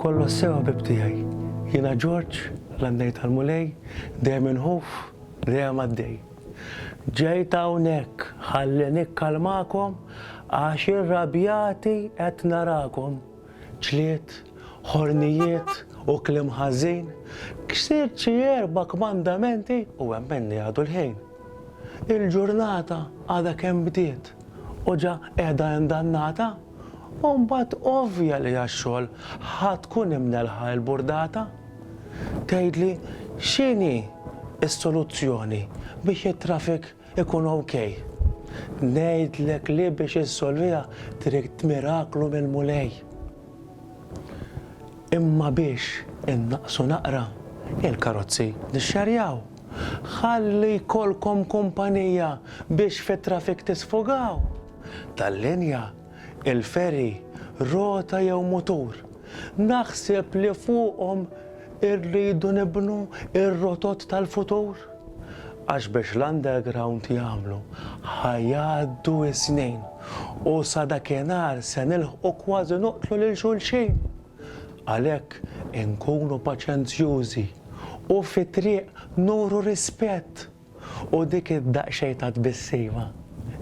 Kollox sew ħbib tiegħi. Jiena Ġorġ, l-għannej tal-Mulej, dejjem inħuf, dejjem għaddej. Ġejt hawnhekk ħalli nikkalmakom għax irrabjati qed narakom. Ġlied, ħornijiet u kliem ħażin, ksirt xi erba' kmandamenti u hemm min għadu l-ħin. Il-ġurnata għadha kemm bdiet. u ġa qiegħda indannata, u mbagħad ovvja li għax-xogħol ħa tkun imnelħa il-burdata. Tgħidli x'inhi s-soluzzjoni biex it-traffic ikun ok? Ngħidlek li biex issolviha trid miraklu mill-Mulej. Imma biex innaqqsu naqra il-karozzi li xxerjaw, ħalli jkollkom kumpanija biex fit-traffic tisfogaw, tal-linja, il-ferry, rota jew mutur, naħseb li fuqhom Irridu nibnu r-rotot tal-futur, għax biex l-underground jagħmlu ħa jgħaddu s-snin u sa dakinhar se nilħqu kważi noqtlu lil xulxin. Għalhekk inkunu paċenzjużi u fit-triq nuru rispett. U dik id-daqsxejn ta' tbissima,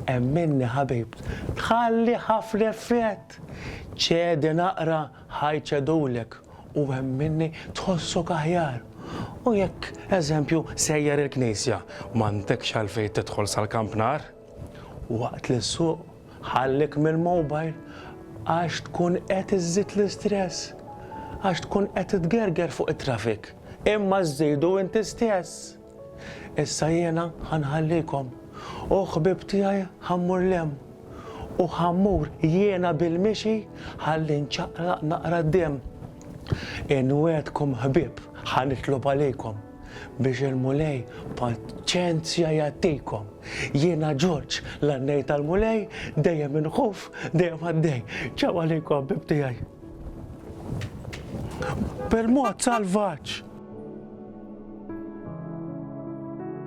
hemm minni ħabibt, tħalli ħafna effett! Ċedi naqra, ħa jċedulek, u hemm minni tħossok aħjar. U jekk, eżempju, sejjer il-knisja, m'għandekx għalfejn tidħol sal-kampnar. Waqt li ssuq, ħallik mill-mobile, għax tkun qed iżżid l-istress. Għax tkun qed tgerger fuq it-traffic, imma żżidu inti stess. Issa jiena ħa nħallikom, u ħbieb tiegħi ħa mmur 'l hemm, u ħa mmur jiena bil-mixi ħalli nċaqlaq naqra d-demm. Inwegħedkom ħbieb, ħa nitlob għalikom, biex il-Mulej paċenzja jagħtikom. Jiena Ġorġ, l-għannej tal-Mulej, dejjem inħuf, dejjem għaddej. Ċaw għalikom ħbieb tiegħi. Permod salvaġġ!